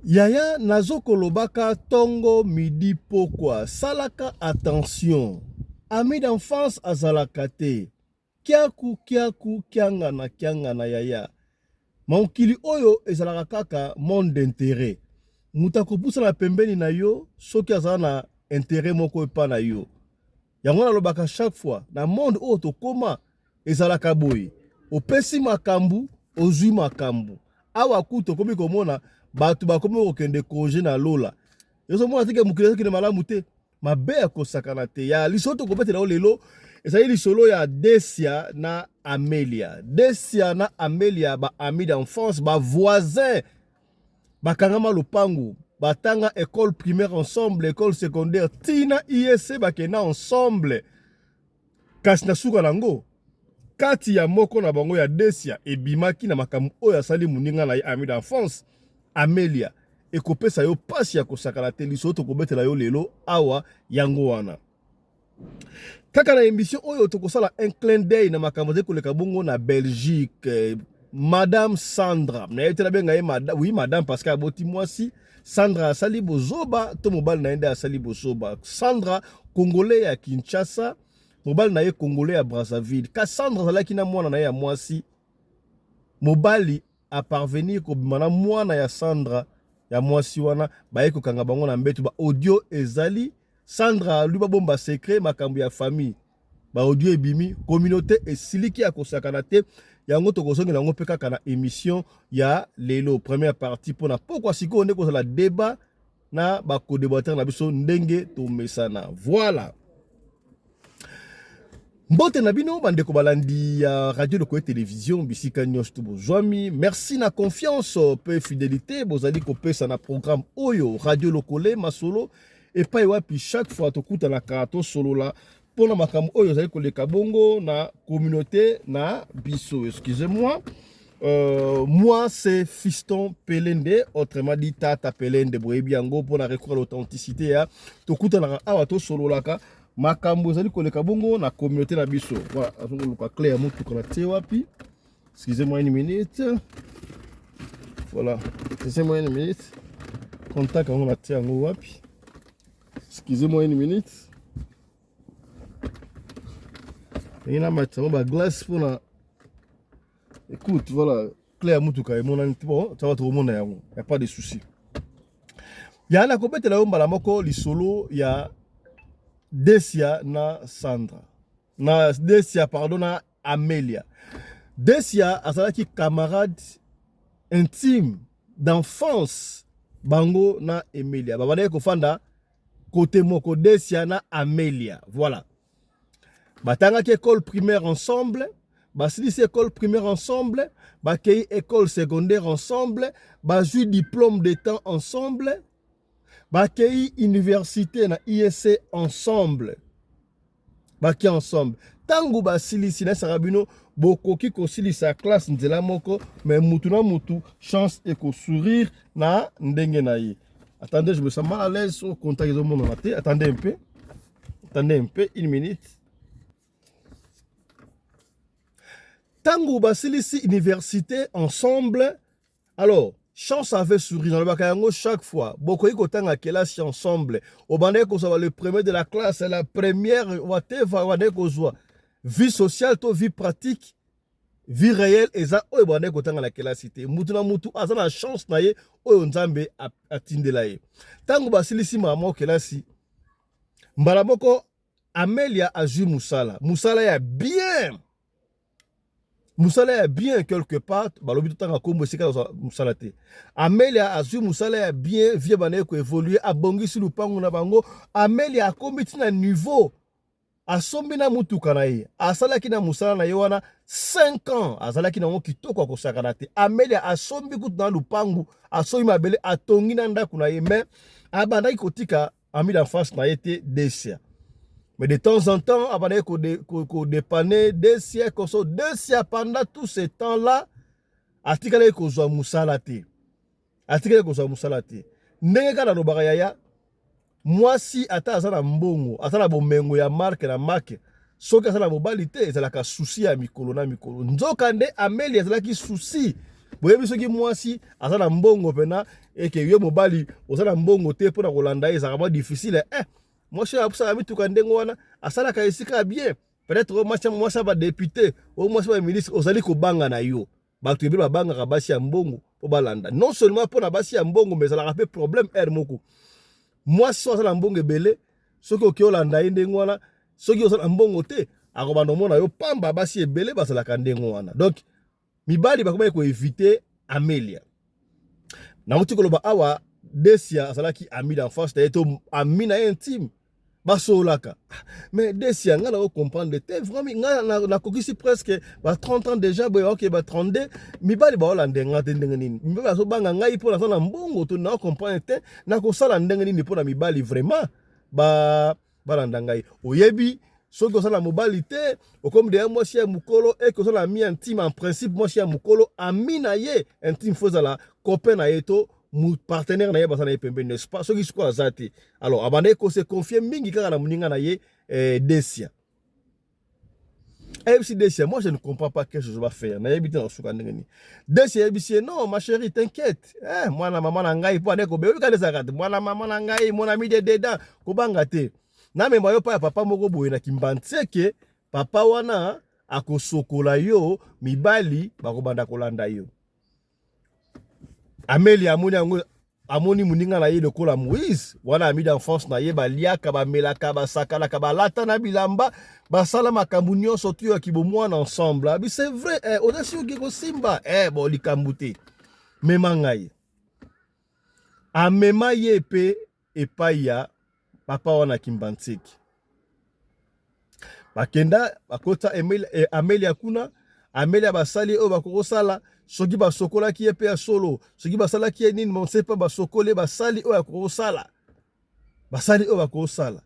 Yaya nazo kolobaka tongo midi pokwa salaka attention ami d'enfance azalaka te kiaku kiaku kiangana kiangana yaya mokili oyo ezalaka kaka monde d'interet moto akopusana pembeni na yo soki aza na interet moko epa na yo Yango nalobaka chaque fois na monde oyo tokoma ezalaka boye, opesi makambu ozui makambu. Awa kutu tokomi komona bato bakomi kokende congé na lola, ezomona teke mokili ezokende malamu te, mabe ya kosakana te. Ya lisolo tokobetela yo lelo ezali lisolo ya Desia na Amelia. Desia na Amelia ba amis d'enfance, ba voisins bakangama lopango batanga ecole primaire ensemble ecole secondaire tina iese bakenda ensemble kasi na suka na yango kati ya moko na bango ya desia ebimaki na makambo oyo asali moninga na ye ami d'enfance amelia ekopesa yo mpasi ya kosakana te lisolo tokobetela yo lelo awa yango wana kaka na emission oyo tokosala un clin d'œil na makambo ezali koleka bongo na belgique madame sandra naye te nabenga ye madame oui madame parce que aboti mwasi sandra asali bozoba to mobali na ye nde asali bozoba sandra congolais ya kinshasa mobali na ye congolais ya brazzaville kasi sandra azalaki na mwana na ye ya mwasi mobali a parvenir kobima na mwana ya Sandra ya mwasi wana baye kokanga bango na mbetu ba audio ezali Sandra alu babomba secret makambo ya famille ba audio ebimi communauté esiliki ya kosakana te yango tokozongela yango mpe kaka na emission ya lelo première partie mpona pokwa sikoyo nde kozala debat na ba codebateur na biso ndenge tomesana voilà mbote na bino bandeko balandi ya radio lokoye television bisika nyonso to bozwami merci na confiance mpe fidelité bozali kopesa na programme oyo radio lokole masolo epai wapi chaque fois tokutanaka tosolola pona makambo oyo ezali koleka bongo na communauté na biso excusez-moi Euh, moi c'est fiston pelende autrement dit tata pelende boyebi yango mpona recours ya authenticité ya tokutanaka awa tosololaka makambo ezali koleka bongo na communauté na biso voilà azongoluka cle ya motuka na tie wapi excusez moi une minute voilà excusez moi une minute contact yango na tie yango wapi excusez moi une minute ndenge namatisa ngo baglace mpo na écoute voilà cle ya motuka emonani bon taba tokomona yango ya pas de souci ya nakobetela yo mbala moko lisolo ya desia na sandra na Desia pardon na Amelia. Desia azalaki camarade intime d'enfance bango na Emelia. Babandaki kofanda kote moko Desia na Amelia. Voilà. Batangaki école primaire ensemble, basilisi école primaire ensemble, bakei école secondaire ensemble, bazwi diplôme de temps ensemble, bakei université na ISC ensemble. baki ensemble ntango basilisi nayesaka bino bokoki kosilisa classe nzela moko me mutu na mutu chance ekosourire na ndenge na ye attendez je me sens mal à l'aise so contact ezomonana te attendez un peu attendez un peu une minute ntango basilisi université ensemble Alors, chance avait souri nalobaka yango chaque fois bokoki kotanga kelasi ensemble obandaki kozwa le premier de la classe la première wateva obandaki kozwa vie sociale to vie pratique vie réelle eza oyo ebandaki kotanga na kelasi te mutu na mutu aza na chance na ye oyo nzambe atindela ye ntango basilisi mama kelasi mbala moko amelia azwi mosala mosala ya bien musala ya bien quelque part balobi totanga nkombo esika azwa musala te amelia azwi musala ya bien vie banaye koevolue abongisi lupangu na bango amelia akomi ntina niveau asombi na motuka na ye asalaki na mosala na ye wana 5 ans azalaki nango kitoko akosakana te amelia asombi kutu na lupangu asombi mabele atongi na ndako na ye mais abandaki kotika ami d'enfance na ye te desia mais de temps en temps abandaki kodepane desia koso desia pendant tout ce temps là atikalaki kozwa mosala te atikaki kozwa mosala te ndenge kaka nalobaka yaya mwasi ata aza na mbongo aza na bomengo ya marke na make soki aza na mobali te ezalaka susi ya mikolo na mikolo nzoka nde ameli ezalaki susi boyebi soki mwasi aza na mbongo mpena eke yo mobali oza na mbongo te mpo na kolanda ye ezalaka mwa difficile eh, mwasi oyo asalaka mituka ndenge wana asalaka esika ya bien peut-être oyo mwasi ya badepute oyo mwasi ya baministre ozali kobanga na yo bato ebele babangaka basi ya mbongo mpo balanda non seulement mpo na basi ya mbongo mais ezalaka mpe problème aire moko mwasi oyo aza na mbongo ebele soki okei olanda ye ndenge wana soki oza na mbongo te akobanda omona yo pamba basi ebele bazalaka ndenge wana donc mibali bakomaki koevite amelia nauti koloba awa desia azalaki ami d'enfance na ye to ami na ye intime basololaka mais desia ngai nako comprendre te vraiment ngai nakokisi presque ba 30 ans déjà boye oke ba 32 mibali baolanda ngai te ndenge nini mibali azobanga ngai mpo naza na mbongo to nako comprendre te nakosala ndenge nini mpo na mibali vraiment ba balanda ngai oyebi soki oza na mobali te okomi deya mwasi ya mokolo eke oza na mi intime en principe mwasi ya mokolo ami na ye intime fo ezala copain na ye to partenaire na ye baza na ye pembeni n'est-ce pas soki sikoyo aza te alors abandaki ko se confie mingi kaka na moninga na ye eh, desia ayebisi desia moi je ne comprends pas quelque chose bafaire nayebi te na kosuka ndenge nini desia ayebisi ye non ma chérie t'inquiète eh, mwana mama na ngai mpo ande kobe oyoka nde ezalaka te mwana mama na ngai mon ami de dedan kobanga te namema yo mpa ya papa moko boye na kimbanseke papa wana akosokola yo mibali bakobanda kolanda yo Amelia amoni yango amoni moninga na ye lokola moïse wana ami d'enfance na ye baliaka bamelaka basakanaka balata na bilamba basala makambo nyonso tu ya kibomwana ensemble abi c'est vrai eh, oza si oke kosimba eh, bo likambo te mema ngai amema ye mpe epai ya papa wana kimbanseki bakenda bakota eh, amelia kuna amelia basali oyo bakoki kosala soki basokolaki ye mpe ya solo soki basalaki ye nini monse mpe basokoli ye basali oyo akoki kosala basali oyo bakoki kosala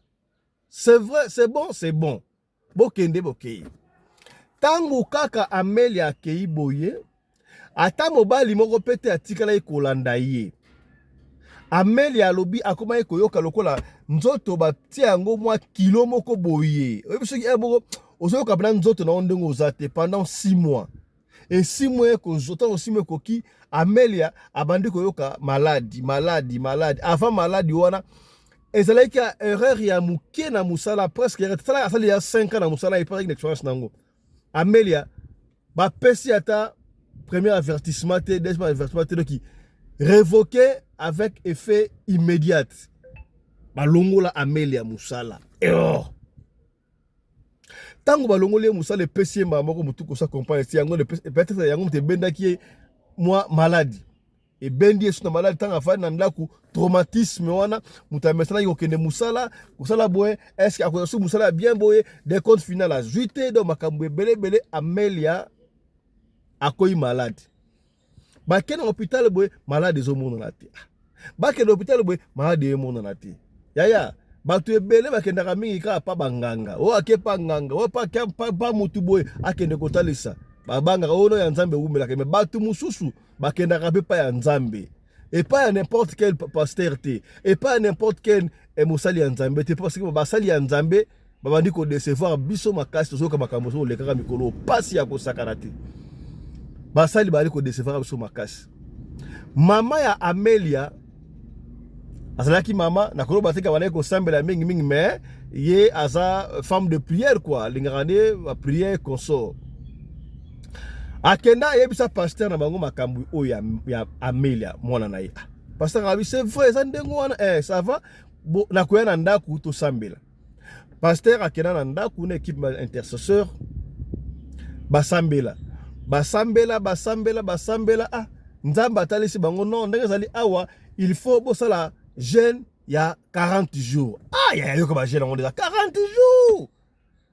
c'est vrai c'est bon c'est bon Bokende bokei. Ntango kaka Amelia akei boye, ata mobali moko mpe te atikalaki kolanda ye. Amelia alobi akomaki koyoka lokola nzoto batia yango mwa kilo moko boye. Oyebi soki moko ozoyoka mpena nzoto na yo ndenge oza te pendant 6 mois. Esimo eko zota osimo ekoki Amelia abandi koyoka maladi maladi maladi avant maladi wana ezalaki ya erreur ya muke na musala presque erreur sala asali ya 5 ans na musala et pas une expérience nango Amelia ba pesi ata premier avertissement te deuxième avertissement te donc révoqué avec effet immédiat balongola Amelia musala erreur ntango balongoli ye mosala epesi ye mbala moko motu kosa compagne ti yango peut-être yango moto ebendaki ye mwa maladi ebendi ye susu na maladi ntango afandi na ndako traumatisme wana moto amesanaki kokende mosala kosala boye eske akozwa susu mosala ya bien boye de compte final azwi te donc makambo ebele ebele amelia akoyi maladi bake na hôpital boye malade ezomonana te ah, bakende hôpital boye malade emonana te yaya bato ebele bakendaka mingi kaka pa banganga oyo ake pa nganga oyo pa motu boye akende kotalisa babangaka oyo no ya nzambe ewumelaka me bato mosusu bakendaka mpe pa ya nzambe epai ya n'importe quel pasteur te epai ya n'importe quel eh, mosali ya nzambe te parce que basali ya nzambe babandi ko decevoir biso makasi tozoyoka makambo ozo olekaka mikolo pasi ya kosakana te basali bali ko decevoir biso makasi mama ya Amelia azalaki mama nakoloba te kabalaki kosambela mingi mingi mais ye aza femme de prière quoi alingaka nde prière consort akenda ayebisa pasteur na bango makambo oyo ya Amelia mwana na ye ah, pasteur abi c'est vrai eza ndenge wana eh ça va bo na koya na ndaku to sambela pasteur akena na ndaku na équipe intercesseur basambela basambela basambela basambela ah nzambe atalisi bango non ndenge ezali awa il faut bosala jeune ya 40 jours ah ya yoka ba jeune yango deja 40 jours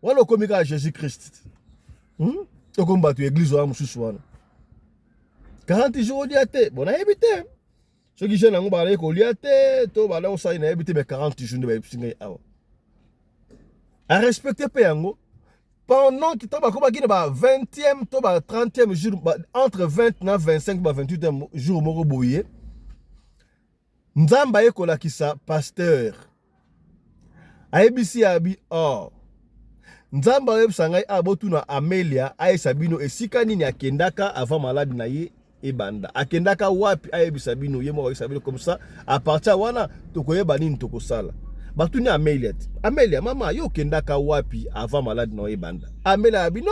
wana okomi kaka jésus christ hmm? okomi bato ya église wana mosusu wana 40 jours olia te bon nayebi te soki jeune yango bazalaki kolia te to banda kosali nayebi te me 40 jours nde bayebisi ngai awa arespecte mpe yango pendant que ntango bakomaki na ba 20e to ba 30e jour entre 20 na 25 ba 28e jour moko boye nzambe aye kolakisa pasteur ayebisi ya bi oh nzambe ayebisa ngai a ah, botuna amelia ayebisa bino esika nini akendaka avant malade na ye ebanda akendaka wapi ayebisa bino ye moko ayebisa bino comme ça à partir ya wana tokoyeba nini tokosala batuni amelia te amelia mama yo okendaka wapi avant malade na yo ebanda amelia ya bino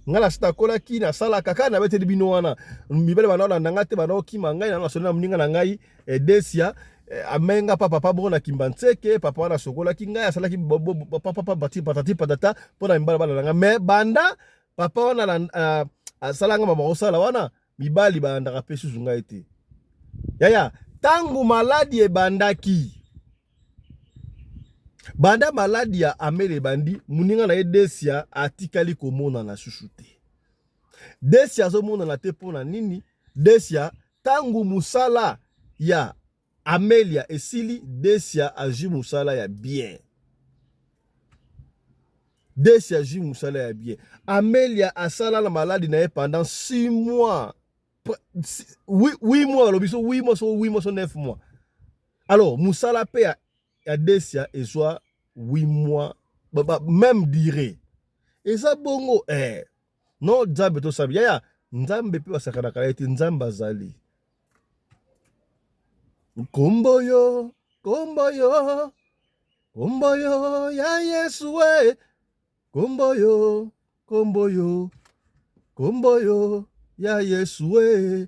ngai nasi nakolaki nasalaka kaka nabeteli bino wana mibale banaolanda ngai te banaokima ngai nano nasoli na moninga na ngai eh, desia eh, amei nga papa pa bongo na kimba nseke papa wana asokolaki ngai asalaki papapapati patati patata mpo na mibala bana na ngai me banda papa wana eh, asala nga mama kosala wana mibali balandaka mpe susu ngai te yaya ntango maladi ebandaki banda maladi ya amele ebandi moninga na ye desia atikali komonana susu te desia azomonana te mpo na nini desia Tangu musala ya Amelia esili Decia azui musala ya bien. Decia azui musala ya bien. Amelia asala na maladi na ye pendant 6 mois. 8 mois alobi so 8 mois so 8 mois so 9 mois. Alors musala pe ya, ya Decia ezwa 8 mois ba, ba, même durée. Eza bongo eh No Nzambe to sabi. Yaya, Nzambe pe basakana kala ete Nzambe azali. Kombo yo, kombo yo, kombo yo ya Yesu we. Kombo yo, kombo yo, kombo yo ya Yesu we.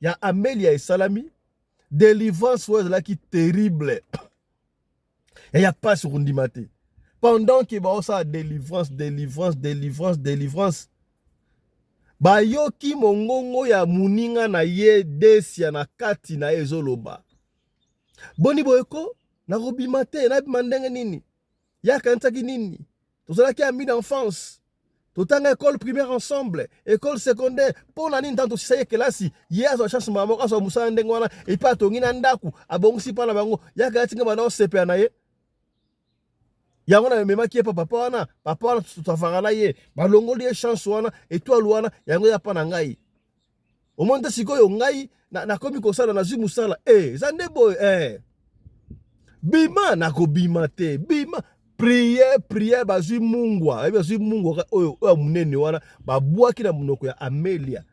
ya Amelia esalami delivrance oyo ezalaki terrible ya pasi okondima te pendant ke baosala delivrance delivrance delivrance delivrance bayoki mongongo ya moninga na ye desia na kati na ye ezoloba boni boyeko nakobima te nabima ndenge nini Ye akanisaki nini? Tozalaki amis d'enfance. Totanga école primaire ensemble, école secondaire. Mpo na nini ntango tosisaki kelasi, ye azwa chance mama moko azwa mosala ndenge wana, epe atongi na ndako, abongisi mpa na bango, ye akayaki nga bana osepela na ye. yango na mememaki ye mpo papa wana papa wana totavaka na ye balongoli ye chance wana etoile wana yango ya mpa na ngai omoni te sikoyo ngai nakomi na kosala nazwi mosala e eh, eza nde boye e bima nakobima te bima priye priye bazwi mungwa ayebi bazwi mungwa oyo oyo monene wana babwaki na monoko ya amelia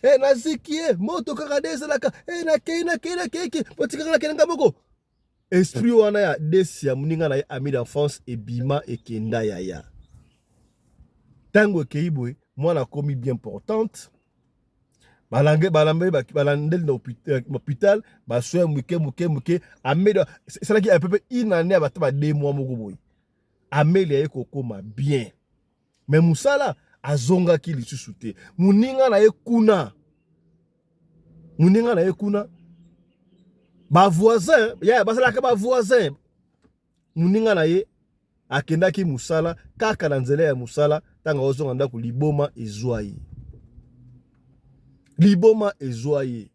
e naziki e moto kaka nde ezalaka e nakei nakei nakeiki botikaka nakei nga moko Esprit wana ya desi ya muninga na ye ami d'enfance ebima ekenda yaya. Tango ekeyi boye mwana akomi bien importante. Balange balambe balandeli na euh, hôpital ba soins muke muke muke ameli esalaki à peu près une année abata ba deux mois moko boye. Ameli aye kokoma bien. me mosala azongaki lisusu te moninga na ye kuna moninga na ye kuna bavoisin ya basalaka bavoisin moninga na ye akendaki mosala kaka na nzela ya mosala ntango aozonga ndako liboma ezwa ye liboma ezwa ye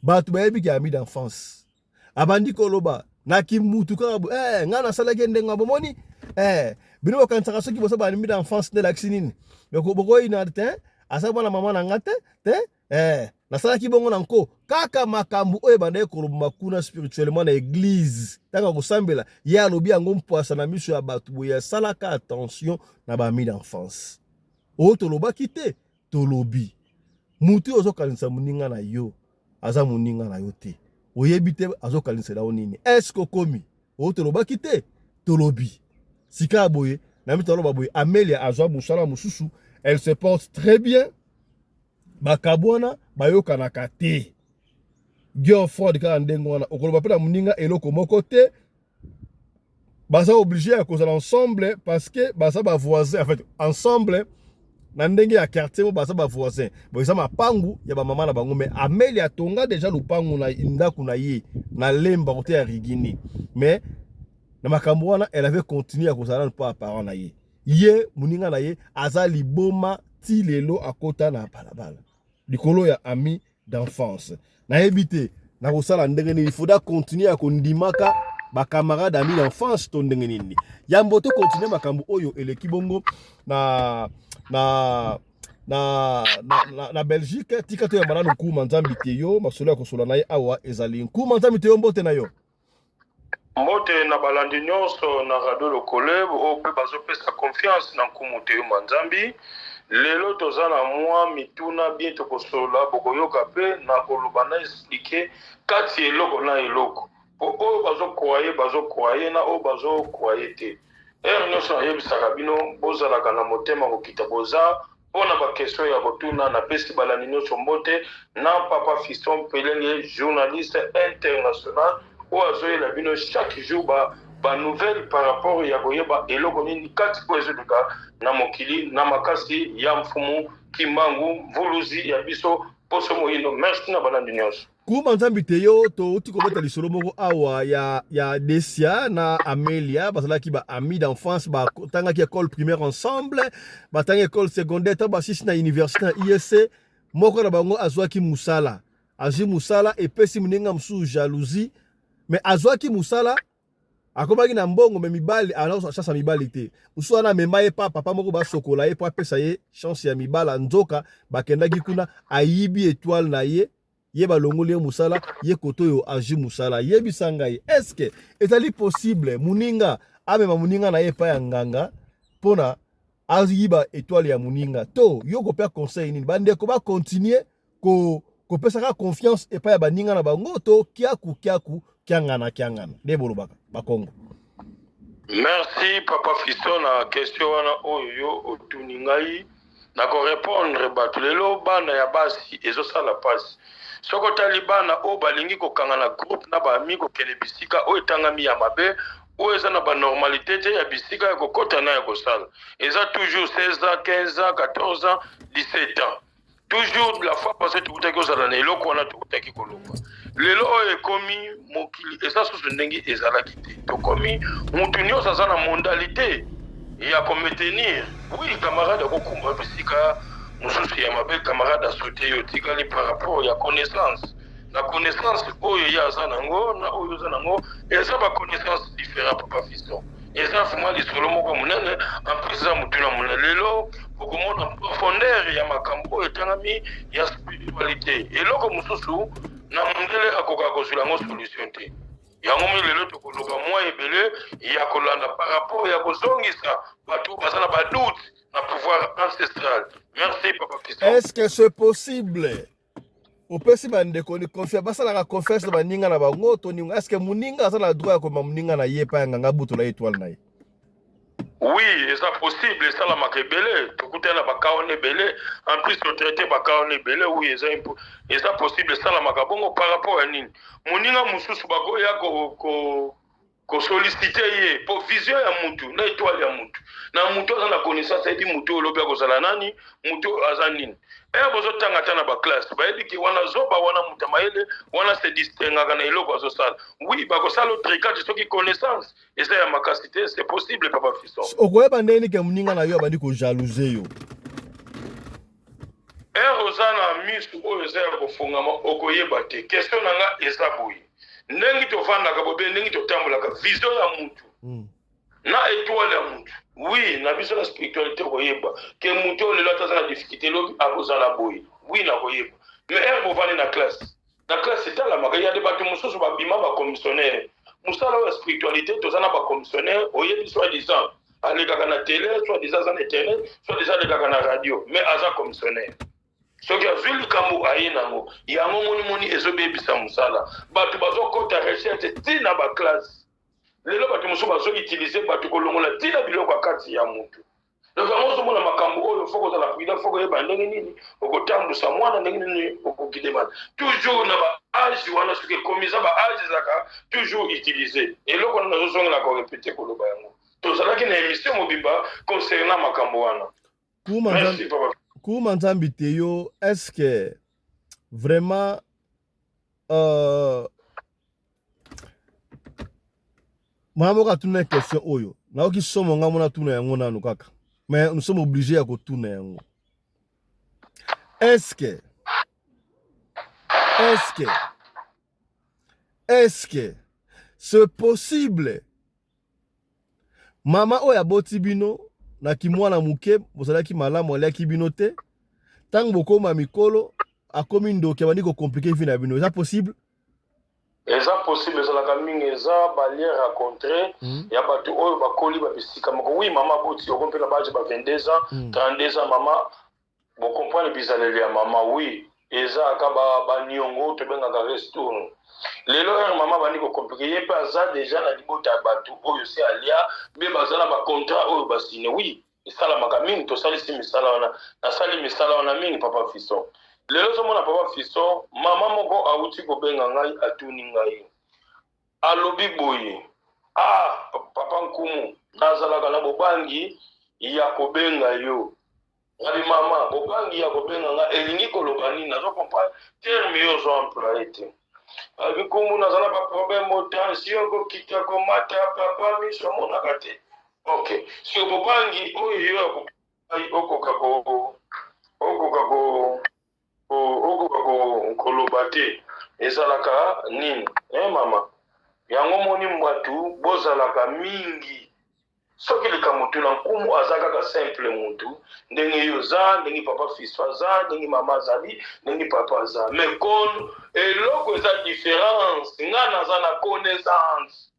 bato bayebi ke ami d'enfance abandi koloba na kimutu kaka bo eh nga nasalaki ye ndenge bomoni eh bino bokanisaka soki bosa balimbi na enfance nde elakisi nini bokoyina te aza mwana mama na nga te te eh nasalaki bongo na nko kaka makambo oyo ebandaki kolobama kuna spirituellement na eglize ntango akosambela ye alobi yango mpwasa na miso ya bato boye asalaka attention na bami d'enfance oyo tolobaki te tolobi mutu yo ozokanisa moninga na yo aza moninga na yo te oyebi te azokaninsela yo nini eske okomi oyo tolobaki te tolobi sika boye na mito aloba boye amelia azwa mosala mosusu elle se porte très bien bakabwana bayokanaka te girlfriend kaka ndenge wana okoloba mpe na moninga eloko moko te baza oblige ya kozala ensemble parce que baza ba voisin en fait ensemble na ndenge ya quartier mo baza ba voisin bo eza mapangu ya ba mama na bango mais Ameli atonga deja lupangu na ndaku na ye na lemba kote ya rigini mais na makambo wana elle avait continué ya kozala na pa parent na ye ye muninga na ye aza liboma ti lelo akota na balabala likolo ya ami d'enfance nayebi te nakosala ndenge nini faudra continuer ya kondimaka bacamarade ami d'enfance to ndenge nini yambo to continue makambo oyo eleki bongo na na na, na, na, na belgique tika toyamba nanu nkuma nzambi te yo masolo ya kosola na ye awa ezali nkuma nzambi te yo mbote na yo Mbote na balandi nionso na radio lokole oyo pe bazo pesa confiance na nkumu toyuma nzambi lelo toza na mwa mituna bien tokosolola bokoyoka pe na koloba na esplike kati eloko na eloko po oyo bazo kuaye bazo kuaye na oyo bazo kuaye te ere nionso nayebisaka bino bozalaka na motema kokita boza Po na ba question ya kotuna, na pesi balandi nionso mbote, na Papa Fiston Mpelele, journaliste international oyo azo yela bino chaque jour ba ba nouvelles par rapport ya koyeba eloko nini kati oyo ezo leka na mokili, na makasi ya Mfumu Kimbangu, Mvuluzi ya biso, Poso Moyindo. Merci na balandi nionso. Kuma nzambi te yo touti kobeta lisolo moko awa ya, ya Desia na Amelia bazalaki ba amis d'enfance batangaki école primaire ensemble batangi école secondaire ntango basisi na université na ISC e, moko na bango azwaki mosala azwi mosala epesi moninga mosusu jalousie mais azwaki mosala akomaki na mbongo me mibali alors chance ya mibali te mosusu wana amema ye pa papa moko basokola ye mpo apesa ye chance ya mibala nzoka bakendaki kuna ayibi etoile na ye ye balongoli ye musala ye kotoyo azwi musala yebisa ngai eske ezali possible muninga amema muninga na ye epai ya nganga mpona ayiba etoile ya muninga to yo kopea conseil nini bandeko ba continue ko kopesaka confiance epai ya baninga na bango to kiaku kiaku kiangana kiangana nde bolobaka bakongo merci papa fisto na question wana oyo yo otuni ngai na korepondre bato lelo bana ya basi ezosala mpasi soki otali bana oyo balingi kokanga na groupe na baami kokende bisika oyo etangami ya mabe oyo eza na banormalité te ya bisika ya kokota na ya kosala eza toujours 16 ans 15 ans 14 ans 17 ans toujours la fois passée tokutaki ozala na eloko wana tokutaki koloba lelo oyo ekomi mokili eza susu ndenge ezalaki te tokomi motu nyonso aza na mondalité ya kometenir oui camarade akokumba bisika mosusu ya mabe camarade asute yo otikali par rapport ya connaissance na connaissance oyo ye aza nango na oyo oza nango eza ba connaissance différent papa fiston eza vraiment lisolo moko monene en plus eza motuna monene lelo okomona profondeur ya makambo oyo etangami ya spiritualité eloko mosusu na mondele akoka kozwela yango solution te yango mi lelo tokoloba mwa ebele ya kolanda par rapport ya kozongisa bato baza na badoute na pouvoir ancestral merci papa est ce que c'est possible opesi bandeko ni confiance basalaka confiance na baninga na bango to ninga eske moninga aza na droit ya komema moninga na ye epai ya nganga butu na ye etwale na ye oui eza possible esalamaka ebele tokutani na baka wana ebele en plus totraite baka wana ebele oui eza eza possible esalamaka bongo par rapport ya nini moninga mosusu bakoya ko, ko ko solliciter ye po vision ya mutu na etoile ya mutu na mutu aza na connaissance ayebi mutu oyo lobi akozala nani mutu oyo aza nini ere bozotanga ata na baklasse bayebi ke wana zoba wana moto ya mayele wana se distingaka na eloko azosala wi bakosala otrikati soki connaissance eza ya makasi te se possible papa fison okoyeba ndenge nike moninga na yo abandi kojalouse yo Heure oza na misu oyo eza ya kofongama okoyeba te. Question na nga eza boye, ndengi tovandaka bobe, ndengi totambolaka, vision ya mutu mm. na etoile ya mutu oui, na biso na spiritualité okoyeba ke mutu oyo lelo ataza na difficulté lobi akozala boye oui, nakoyeba mais heure bovandi na classe na classe etalamaka ya de bato mosusu babima bacommissionnaire mosala oyo ya spiritualité toza na bacommissionnaire oyebi soi disant alekaka na tele soi disant aza na internet soi disant alekaka na radio mais aza commissionnaire soki azwi likambo aye nango yango monimoni ezobebisa mosala bato bazokɔta recherche ti na baklasse lelo bato mosusu bazoutilize bato kolongola ti na biloko ya kati ya motu Donc yango ozomona makambo oyo foko ozala prudent, foko oyeba ndenge nini okotambusa mwana, ndenge nini okokide mwana toujours na ba age wana, soki ekomi eza ba age ezalaka toujours utilise. Eloko wana nazozongela korepete koloba yango, tozalaki na emission mobimba concernant makambo wana. Merci papa. Kuma Nzambi te yo, est-ce que vraiment euh, mwana moko atuna na question oyo nayoki somo ngai mona tuna yango nanu kaka mais nous sommes obligés ya kotuna yango eske eske eske c'est possible mama oyo aboti bino na kimwana moke bozalaki malamu aliaki bino te ntango bokoma mikolo akomi ndoki abandi kokomplike vi na bino eza possible Eza possible ezalaka mingi eza ba lien racontre ya batu oyo bakoli ba bisika moko oui maman aboti oko mpe na ba age ba 22 ans 32 ans maman bo comprendre bizaleli ya maman oui eza aka ba ba niongo tobengaka restourne lelo heure maman abandi ko complique ye mpe aza deja na libota ya batu oyo se alia mpe baza na ba contrat oyo ba signe oui esalamaka mingi tosalisi misala wana nasali misala wana mingi papa fison lelo ozomona papa fison mama moko awuti kobenga ngai atuni ngai alobi boye ah papa nkumu nazalaka na bobangi ya kobenga yo ngabi mama bobangi ya kobenga nga elingi koloba nini nazo comprendre terme yo ozo employe te abi nkumu nazala baproblème otansi okokita komata papa miso omonaka te Ok, sur bobangi oyo yo ya kopai okoka ko okoka ko okoka ko koloba te ezalaka nini? Eh mama, yango moni mbatu bozalaka mingi soki likambo tuna nkumu aza kaka simple mutu ndenge yo oza ndenge papa fiso aza ndenge mama azali ndenge papa aza mais kon eloko eza différence nga naza na connaissance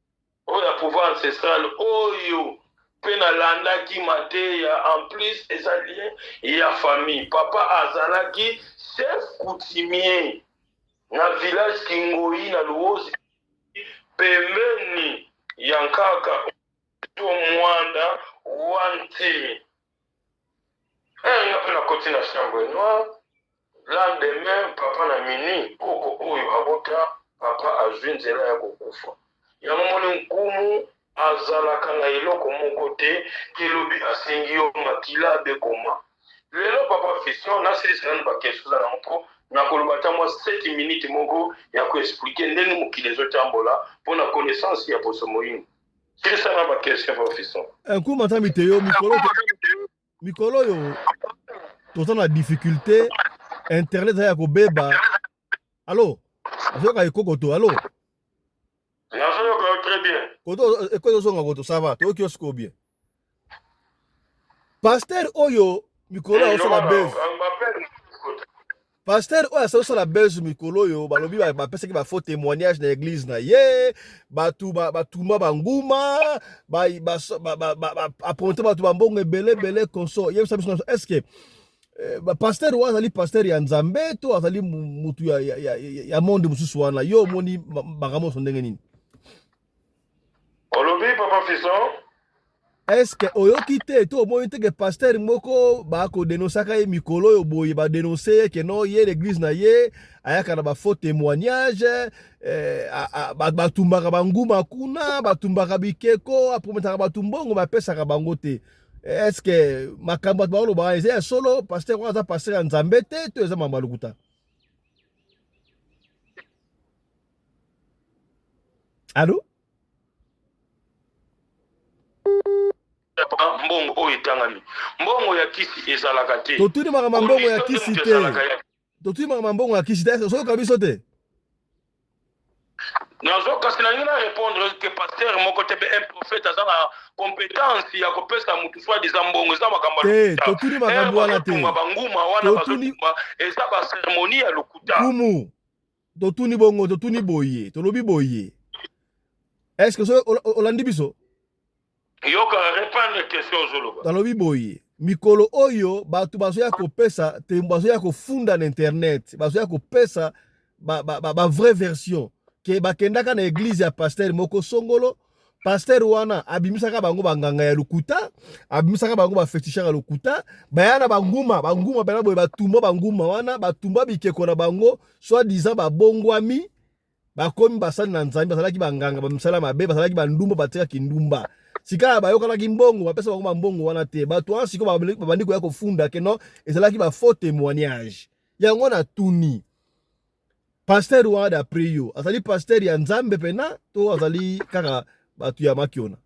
oyo ya pouvoir ancestral oyo pe na landaki mateya en plus eza lien ya famille papa azalaki chef coutumier na village kingoyi na luozi pembeni ya nkaka to mwanda wa ntimi Eh, nga mpe nakoti na chambre noire lendemain papa na minuit koko oyo abota papa azwi nzela ya kokufa yango moni nkumu azalaka na eloko moko te elobi asengi yo makila bekoma lelo papa fiston nasilisa nanu bakestion eza nango mpo nakoloba ata mwa 7 minute moko ya koexplike ndenge mokili ezotambola mpo na connaissance ya poso moyini Eh, nkuma nzambi te yo mikolo mikolo oyo toza na difficulté internet eza ya kobeba alo azoyoka ekokoto alo nazoyoka yo très bien koto ekoki ozonga koto ça va toyoki yo sikoyo bien Pasteur oyo mikolo ya osala buzz. Pasteur oyo asala osala buzz mikolo oyo balobi bapesaki ba faux témoignage na église na ye bato batumba banguma apronte bato bambongo ebele ebele conso yebisa biso est ce que eh, pasteur oyo azali pasteur ya nzambe to azali motu ya, ya, ya, ya monde mosusu wana yo omoni makambo nyonso ndenge nini Olobi papa Fiston. Est-ce que oyoki te to omoni te que pasteur moko ba ko denonsaka ye mikolo oyo boye ba denoncer ye que non ye l'église na ye ayaka na ba faux témoignages eh, a- a- ba- batumbaka banguma kuna batumbaka bikeko aprometaka bato mbongo me apesaka bango te est-ce que makambo bato baoloba wana eza ya solo pasteur wana aza pasteur ya nzambe te to eza mambo ya lokuta Allô mbongo oyo etangami mbongo ya kisi ezalaka te totuni makambo mbongo ya kisi te totuni makambo mbongo ya kisi te ozoyoka biso te nazo kasi nalingi na répondre ke paster moko te mpe un prophète aza na compétence ya kopesa motu soit disa mbongo eza makambo eh, totuni makambo wana te banguma wana bazotumba eza baceremonie ya lokuta kumu totuni bongo totuni boye tolobi boye est ce que so olandi biso yoka repandre question ozoloba talobi boye mikolo oyo bato bazoya kopesa te bazoya kofunda na internet bazoya kopesa bavrai ba, ba, ba version ke bakendaka na eglize ya pastere moko songolo pasteur wana abimisaka bango banganga ya lokuta abimisaka bango bafetishaka ya lokuta baya na banguma banguma mpena boye batumba banguma wana batumba bikeko na bango soit disant babongwami bakomi basali na nzambe bazalaki banganga bamisala mabe bazalaki bandumba batika kindumba sika bayokanaki mbongo bapesa bango bambongo wana te bato wana siko babandi koya kofunda keno ezalaki bafaux témoignage yango na tuni pasteur wana d'après yo azali pasteur ya nzambe pena to azali kaka bato ya makiona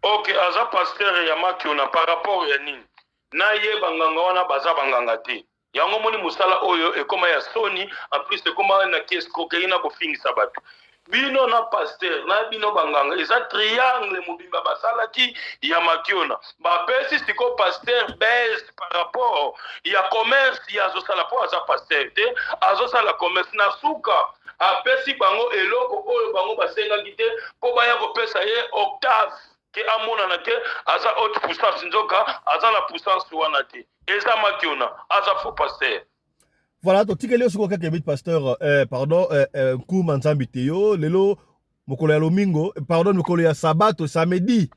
ok aza pasteur ya makiona par rapport ya nini na ye banganga wana baza banganga te yango moni mosala oyo ekoma ya soni en plus ekoma na kiescroquerie na kofingisa bato bino na pasteur na bino banganga eza triangle mobimba basalaki ya makiona bapesi sikoyo pasteur base par rapport ya commerce ye azosala mpo aza pasteur te azosala commerce na suka apesi bango eloko oyo bango basengaki te mpo baya kopesa ye octave ke amonana ke aza haute puissance nzoka aza na puissance wana te eza makiona aza faux pasteur Voilà, to tikeli siko kaka bit pasteur euh pardon euh, euh Nkuma Nzambi Teo lelo mokolo ya lomingo eh, pardon mokolo ya sabato samedi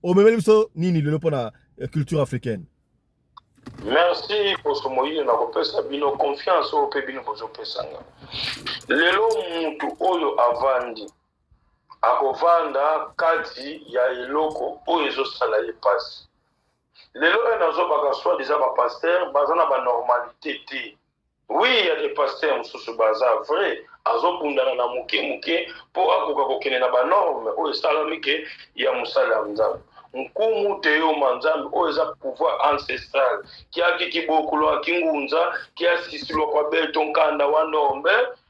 omemeli biso nini lelo pona euh, culture africaine. Merci poso moyini na kopesa bino confiance oyo mpe bino bozopesa nga lelo mutu oyo avandi akovanda kati ya eloko oyo ezosala ye mpasi Lelo oyo nazo baka soit disant ba pasteur baza na ba normalite te oui ya de pasteur mususu baza vrai azo bundana na muke muke po akoka kokende na ba norme oyo esalami ke ya musala ya nzambe nkumu teyoma nzambe oyo eza pouvoir ancestral kiaki kibokulo akingunza kiasisilwa kwa beto nkanda wa ndombe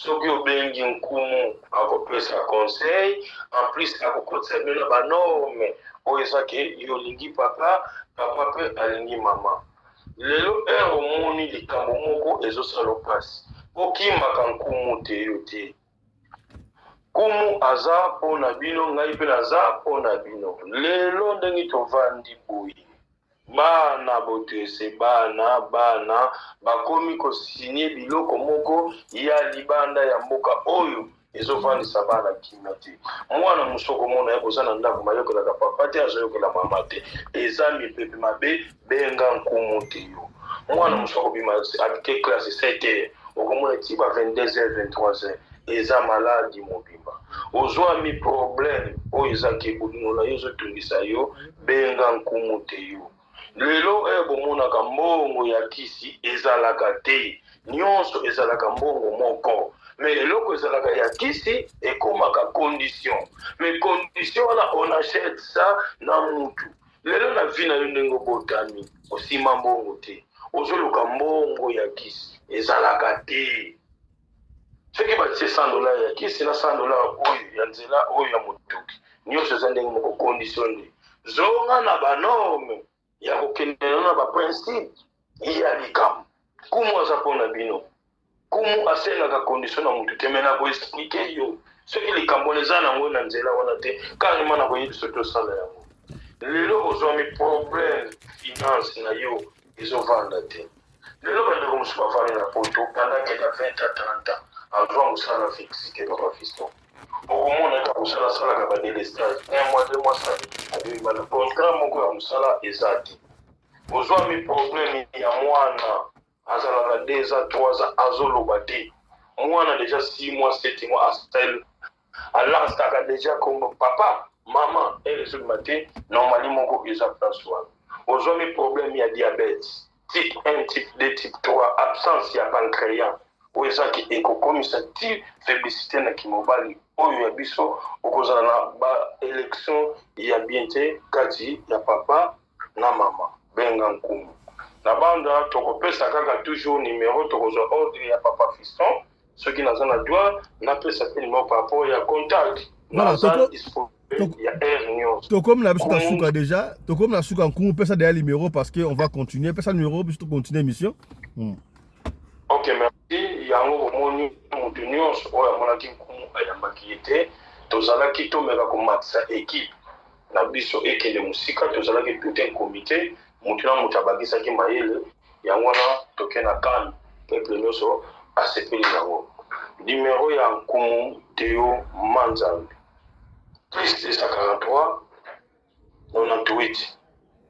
Soki obengi nkumu akopesa conseil en plus akokotisa bino na ba norme oyo eza ke yo olingi papa papa mpe alingi mama lelo heure omoni likambo moko ezosala mpasi okimaka nkumu te yo te nkumu aza mpo na bino ngai mpe naza mpo na bino lelo ndenge tovandi boye Bana botuese bana bana bakomi ko signe biloko moko ya libanda ya mboka oyo ezo vandisa bana kimia te mwana musoko mona ye boza na ndako mayokelaka papa te azoyokela mama te eza mipepe mabe benga nkumu te yo mwana musoko bima abite classe 7 heures okomona ti ba 22 heures 23 heures eza maladi mobimba ozwami problème oyo eza ke bolingo na yo ezotungisa yo Benga nkumu Teyu. Lelo oyo bomonaka mbongo ya kisi ezalaka te, nyonso ezalaka mbongo moko me eloko ezalaka ya kisi ekomaka condition me condition wana on achète ça na mutu lelo na vi na yo ndenge obotami osima mbongo te ozoluka mbongo ya kisi ezalaka te soki batie 100 dollars ya kisi na 100 dollars oyo ya nzela oyo ya motuki nyonso eza ndenge moko condition nde zonga na banorme ya kokende na na baprincipe ya likambo kumu aza mpo na bino kumu asengaka condition na motu te me na koexplike yo soki likambo wana eza nango na nzela wana te kanima na koyebi soki osala yango lelo ozwami problème finance na yo ezovanda te lelo bandeko mosusu bafandi na poto pendant kenda 20 ans 30 ans azwa mosala fixe te papa fisto okomona ete akosala asalaka badelestage un mois deux mois sali abimana contrat moko ya mosala eza te ozwami problème ya mwana azalaka deux ans trois ans azoloba te mwana deja six mois sept mois asali a lancaka dejà kombo papa maman heure ezobima te normali moko eza place wana ozwami problème ya diabète type 1 type 2 type 3 absence ya pancréas oyo ezaki ekokomisa ti faiblicité na kimobali oyo ya biso okozala na baélection ya bien te kati ya papa na mama benga nkumu na banda tokopesa kaka toujours numero tokozwa ordre ya papa fiston soki naza na droit napesa mpe numero par rapport ya contact naza disponible tokomi na biso na suka déjà tokomi na suka nkumu pesa deya numéro parce que on va continuer pesa numéro biso tocontinue émission hmm. ok merci yango bomoni moto nyonso oyo amonaki nkumu ayambaki ye te tozalaki tomeka komatisa équipe na biso ekende mosika tozalaki tout un comite mutu na mutu abakisaki mayele yango wana toke na can peuple nioso asepeli nango numero ya nkumu Theo Manzambi plus 243 98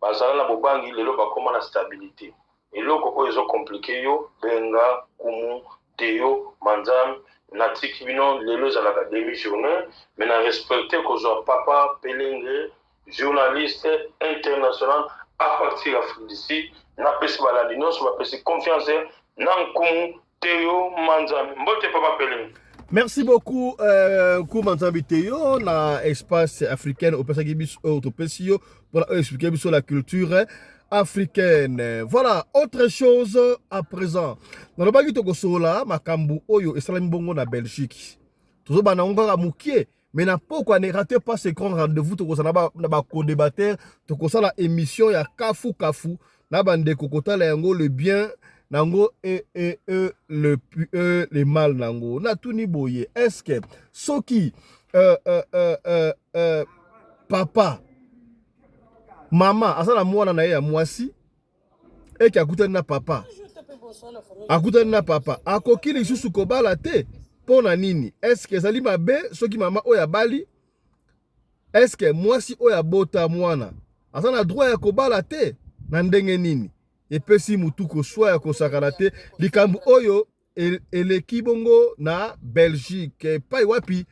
Bazala na bobangi lelo bakoma na stabilite eloko oyo ezo complique yo benga kumu Theo manzam na tiki bino lelo ezalaka demi journee mais na respecte kozua papa pelengre journaliste international apartir afrique du sud na pesi balandi nionso bapesi confiance na nkumu Teyo Manzambi. Mbote Papa Pele. Merci beaucoup euh, Kuma Nzambi Teyo na espace africaine opesaki biso oyo topesi yo mpona oyo expliquer biso la culture africaine. Voilà, autre chose à présent. Nalobaki tokosolola makambo oyo esalami bongo na Belgique. Tozobana yango kaka mokie mais na pokwa ne rate pas ce grand rendez-vous tokozala na bacodebateur tokosala émission ya kafu kafu na bandeko kotala yango le bien na yango e, e, e, le, e, le mal na yango natuni boye estce soki euh, euh, euh, euh, euh, papa mama aza na mwana na ye ya mwasi eke akutani na papa akutani na papa akoki lisusu kobala te mpo na nini eske ezali mabe soki mama oyo abali eske mwasi oyo abota mwana aza na droit ya kobala te na ndenge nini epesi motu koswa ya kosakana te likambo oyo eleki bongo na belgique epai wapi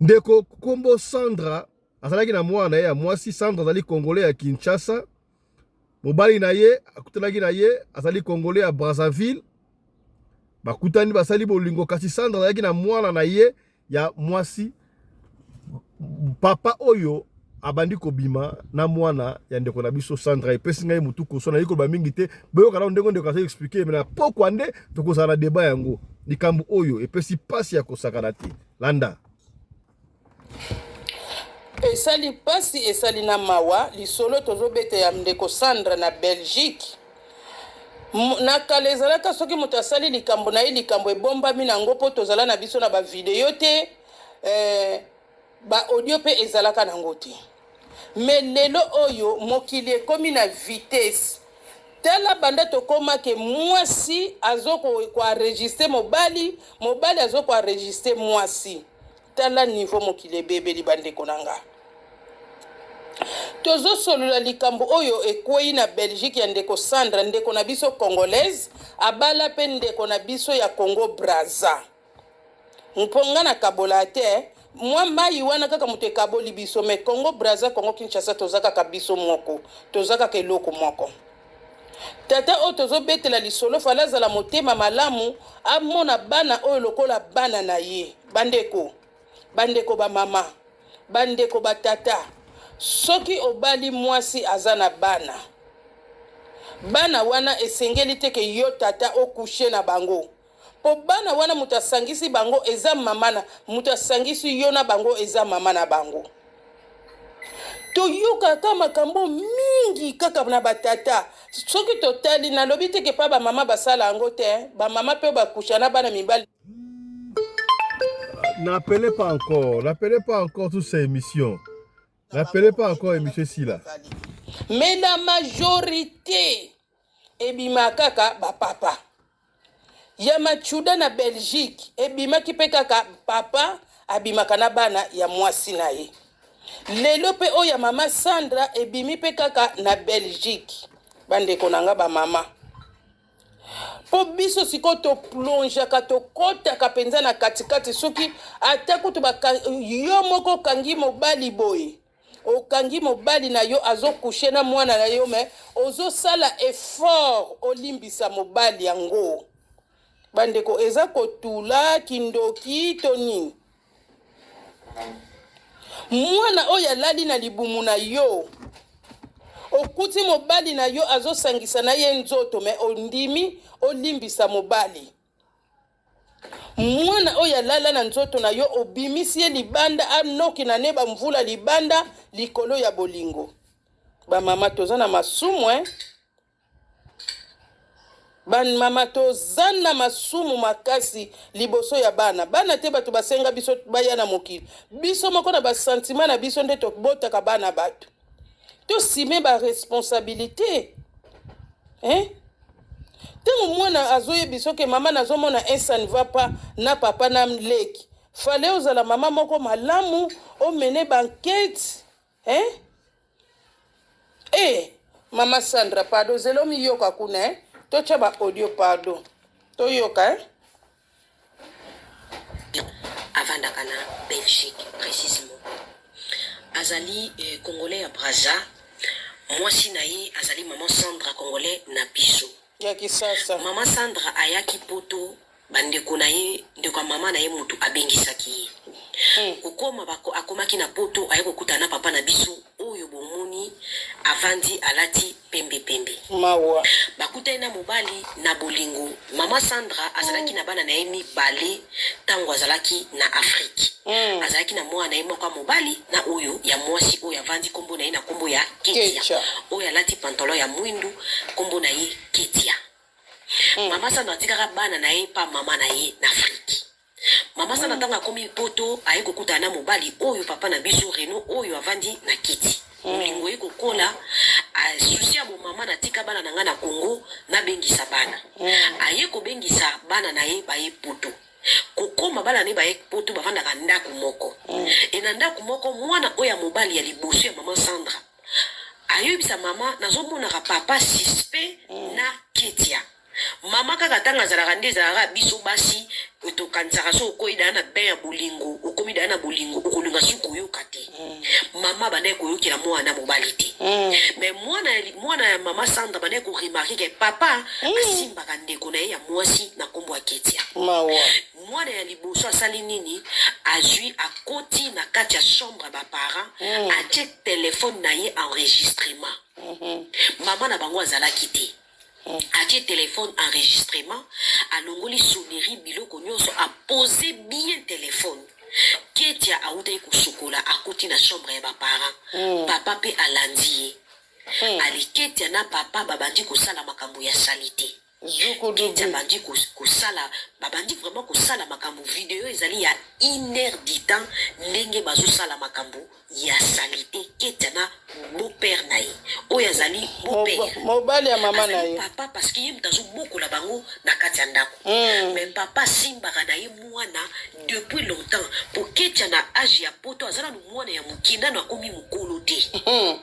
ndeko nkombo sandra azalaki na mwana na ye ya mwasi sandra azali kongole ya kinshasa mobali na ye akutanaki na ye azali kongole ya brazzaville bakutani basali bolingo kasi sandra azalaki na mwana na ye ya mwasi papa oyo abandi kobima na mwana ya ndeko na biso Sandra epesi ngai mutu koso nayebi koloba mingi te boyoka nao ndenge ndeko azo explike me na pokwa nde tokozala na deba yango likambo oyo epesi mpasi ya kosakana te landa esali mpasi esali na mawa lisolo tozobeta ya ndeko Sandra na Belgique na kala ezalaka soki moto asali likambo na ye likambo ebombami na yango mpo tozala na biso na bavideo te eh, baaudio mpe ezalaka na yango te me lelo oyo mokili ekomi na vitese tala banda tokomake mwasi azokoenregistre mobali mobali azokoenregistre mwasi Tala niveau mokili ebebeli ba ndeko na nga. Tozo solola likambo oyo ekweyi na Belgique ya ndeko Sandra, ndeko na biso congolaise abala pe ndeko na biso ya Congo Brazza. Mpo nga na kabolaa te, mwa mayi wana kaka moto ekaboli biso mais Congo Brazza, Congo Kinshasa toza kaka biso moko, toza kaka eloko moko. Tata oyo tozo betela lisolo fallait azala motema malamu amona bana oyo lokola bana na ye. Bandeko, bandeko ba mama, bandeko ba tata, soki obali mwasi aza na bana, bana wana esengeli te ke yo tata o coucher na bango. Po bana wana mutu asangisi bango eza mama na mutu asangisi yo na bango eza mama na bango. Toyoka ka makambo mingi kaka na ba tata. Soki totali nalobi te ke pa ba mama basala yango te hein. Ba mama pe ba kucha na bana mibali. N'appelez pas encore, n'appelez pas encore toute ces émissions. N'appelez pas encore émission esila. Mais la majorite ebima kaka ba papa ya machuda na belgique ebimaki mpe kaka papa abimaka na bana ya mwasi na ye lelo mpe oyo ya mama sandra ebimi mpe kaka na belgique bandeko na nga bamama mpo biso sikoyo toplongeaka tokɔtaka mpenza na katikati soki ata kutu yo moko okangi mobali boye okangi mobali na yo azo couche na mwana na yo me ozosala effort olimbisa mobali yango bandeko eza kotula kindoki to nini mwana oyo alali na libumu na yo okuti mobali na yo azosangisa na ye nzoto me ondimi olimbisa mobali mwana oyo alala na nzoto na yo obimisi ye libanda anoki na ne bamvula libanda likolo ya bolingo bamama toza na masumu eh? bamama toza na masumu makasi liboso ya bana bana te bato basenga biso baya na mokili biso moko na basantima na biso nde tobotaka bana bato tosime ba responsabilité hein ntango mwana azoyebi soki mama nazomona esa ne va pas na papa na leki fale ozala mama moko malamu omene bankete hein? e eh, mama sandra pardon zela omiyoka kuna eh? totya baaudio pardon toyoka eh? avandaka na Belgique precisement azali eh, congolais ya Brazza mwasi na ye azali maman Sandra congolais na biso ya kisasa maman Sandra ayaki poto bandeko na ye ndeko ya mama na ye motu abengisaki ye hmm. kokoma akomaki na poto aye kokutana na papa na biso oyo bomoni avandi alati pembe pembe mawa bakutani na mobali na bolingo mama sandra azalaki mm. na bana na ye mibale ntango azalaki na afrike mm. azalaki na mwana na ye moko ya mobali na oyo ya mwasi oyo avandi nkombo na ye na nkombo ya ketia oyo alati pantalon ya mwindu nkombo na ye ketia mm. mama sandra atikaka bana na ye mpa mama na ye na afrike Maman sana tanga komi poto aye kokuta na mobali oyo papa na biso Reno oyo avandi na kiti molingo hmm. ye kokola susi ya bomama natika bana na ngai na Congo nabengisa bana hmm. aye kobengisa bana na ye baye poto kokoma bana ne baye poto bavandaka ndako moko hmm. e na ndako moko mwana oyo ya mobali ya liboso ya mama Sandra ayoyebisa mama nazomonaka papa suspect na ketia Maman kaka tanga azalaka nde ezalaka biso basi tokanisaka so okoyi daya na bain ya bolingo okomi daya na bolingo okolinga si koyoka te mm. mama bandaki koyokela mwana mobali te mm. mais mwana mwana ya mama sandra bandaki koremarke ke papa mm. asimbaka ndeko na ye ya mwasi na nkombo ya ketia mwana ya liboso asali nini azwi akoti na kati ya chambre ya baparent atie telefone na ye enregistrement mm-hmm. mama na bango azalaki te Atie telephone enregistrement alongoli sonnerie biloko nionso a pose bien telephone ketia awutaki kosukola akuti na chambre ya ba parents mm. papa pe alandi ye mm. ali ketia na papa babandi kosala makambo ya salite ketia abandi kosala babandi vraiment kosala makambo video ezali ya une heure du temps ndenge bazosala makambo ya salite keta na beau père na ye oyo azali beau père mobali ya mama na ye papa parce que ye moto azobokola bango na kati ya ndako mm. mais papa asimbaka na ye mwana depuis longtemps po ketia na age ya poto aza nanu mwana ya moke nanu akomi mokolo te mm.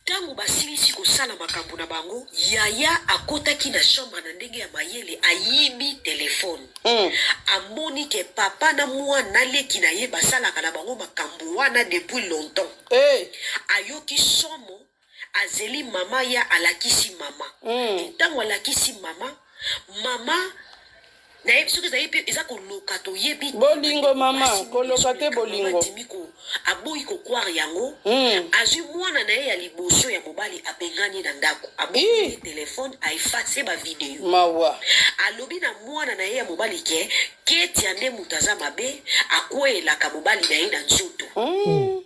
Tango basilisi kosala makambo na bango, yaya akotaki na chambre na ndenge ya mayele, ayibi telephone. Mm. Amoni ke papa na mwana na leki na ye basalaka na bango makambo wana depuis longtemps. Hey. Eh. Ayoki somo, azeli mama ya alakisi mama. Mm. Ntango alakisi mama, mama nayebi soki ezali mpe eza koloka toyebi bolingo mama koloka te bolingo adimi ko aboyi kokware yango mm. azwi mwana na ye ya liboso ya mobali abengani na ndako aboyi telefone aefase bavideo mawa alobi na mwana na ye ya mobali ke ketia nde moto aza mabe akweyelaka mobali na ye na nzoto mm.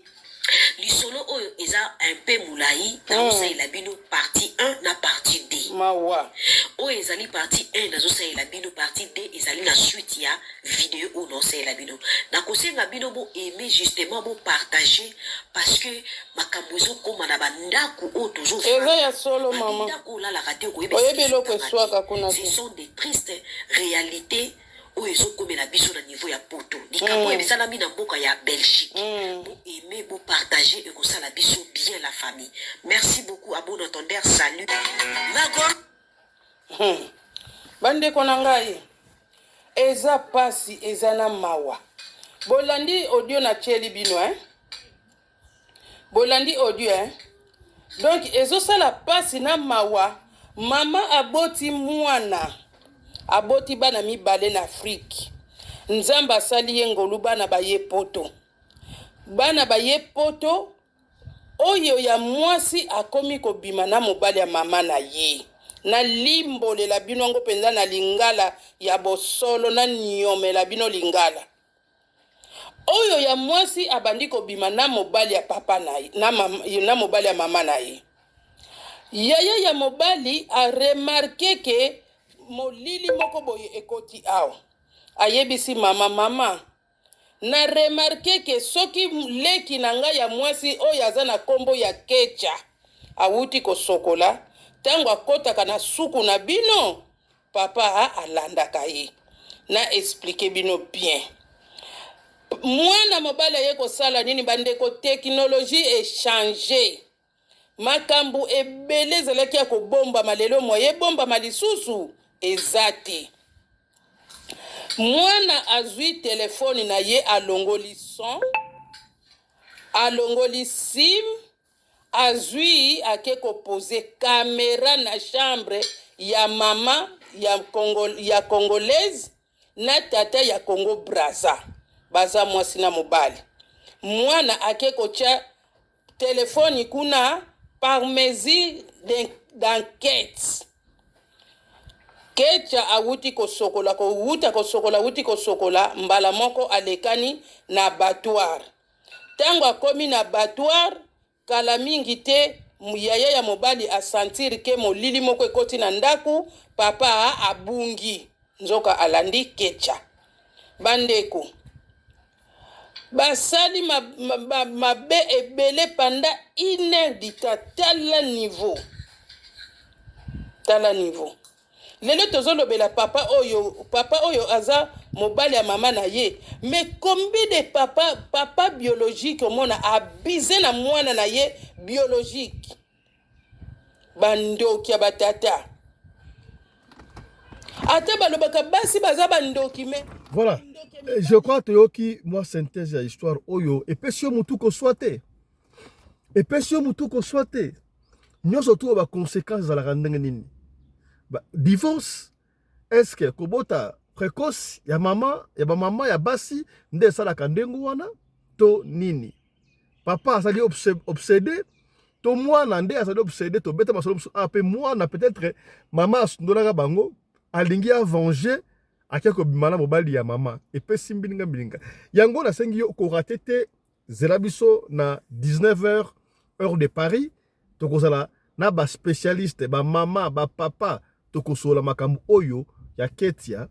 lisolo oyo eza un peu molai nazosalela hmm. bino parti 1 na parti 2 mawa oyo ezali parti 1 nazosalela bino parti 2 ezali na suite ya video oyo naosalela bino nakosenga bino bo aime justement bo partage parce que makambo ezokoma na bandako oyo tozoeza ya solo mamandako olalaka te okoyebi eloko eswaka kuna ce sont des tristes réalités oyo ezo komela biso na niveau ya poto likambo oyo esalami na mboka ya belgique bo aime bo partage ekosala biso bien la famille merci beaucoup à bon entendeur salut magor hmm. bandeko na ngai eza pasi eza na mawa bolandi audio na tieli bino eh? Bolandi audio hein? Donc ezosala pasi na mawa, mama aboti mwana, aboti bana mibale na Afrique. Nzambe asali ye ngolu, bana baye poto, bana baye poto. Oyo ya mwasi akomi kobima na mobali ya mama na ye. Nalimbolela bino yango mpenza na lingala ya bosolo, naniomela bino lingala. Oyo ya mwasi abandi kobima na mobali ya papa na ye, na, mam, na mobali ya mama na ye. Yaya ya mobali a remarke ke molili moko boye ekoti awa. Ayebisi mama, mama, na remarke ke soki leki na ngai ya mwasi oyo aza na kombo ya Kecha awuti kosokola, tango akotaka na suku na bino Papa a alandaka ye. Na expliquer bino bien. Mwana mobali aye kosala nini bandeko technologie echange. Makambo ebele ezalaki ya kobombama lelo moye ebombama lisusu eza te. Mwana azwi telefone na ye alongoli son, alongoli sim, Azui ake ko pose camera na chambre ya maman ya congo ya congolaise na tata ya congo braza baza mwasi na mobali mwana ake kotia telefoni kuna par mesure d'enquete kecha awuti kosokola kowuta kosokola awuti kosokola mbala moko alekani na abattoir Tango akomi na abattoir, kala mingi te, yaya ya mobali a sentir que molili moko ekoti na ndaku, papa abungi nzoka alandi ketcha. Ba ndeko, basali mabe ebele pendant une heure du temps, tala niveau, tala niveau. Lelo tozo lobela papa oyo papa oyo aza mobali ya mama na ye mais combien de papa papa biologique omona abuse na mwana na ye biologique bandoki ya batata ata balobaka basi baza bandoki mais voilà je crois toyoki mwa synthèse ya histoire oyo epesi yo motu koswa te epesi yo motu koswa te nyonso tu ba conséquence ezalaka ndenge nini ba divorce est-ce que kobota précoce ya mama ya bamama ya basi nde esalaka ndenge wana to nini papa azali obsede to mwana nde azali obsede tobeta masolo mosusu a ah, mpe mwana peut-être mama asundolaka bango alingi avenge ake kobima na mobali ya mama epesi mbilinga mbilinga yango nasengi yo korate te zela biso na 19 heures heure de paris tokozala na ba specialiste ba mama ba papa tokosola makambo oyo ya ketia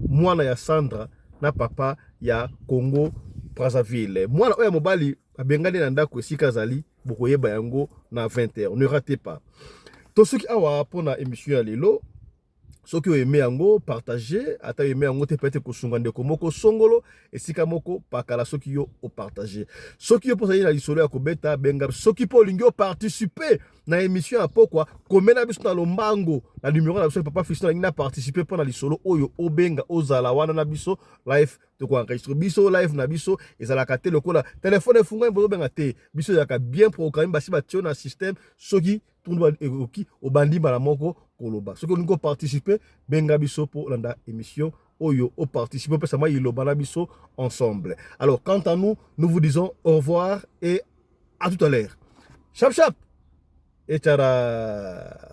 mwana ya sandra na papa ya congo brazzaville mwana oyo ya mobali abengani na ndako esika azali bokoyeba yango na 20 heures ne rate pas tosuki awa mpo na emission ya lelo soki oyeme yango partage ata oyeme yango te pete kosunga ndeko moko songolo esika moko pakala soki yo opartage soki yo mpo ozali na lisolo ya kobeta benga soki mpo olingi oparticipe na emission ya pokwa komela biso na lombango na numero na biso ya papa fisto nalingi na participe mpo na lisolo oyo obenga ozala wana na biso live tokoenregistre biso live na biso ezalaka te lokola telefone efungwami bozobenga te biso ezalaka bien programme basi batio na systeme soki tuna ekoki obandi mbala moko koloba soki olingi koparticipe benga biso mpo olanda émission oyo oparticipe opesa mwa iloba na biso ensemble alors quant à nous nous vous disons au revoir et à tout à l'heure chap chap echara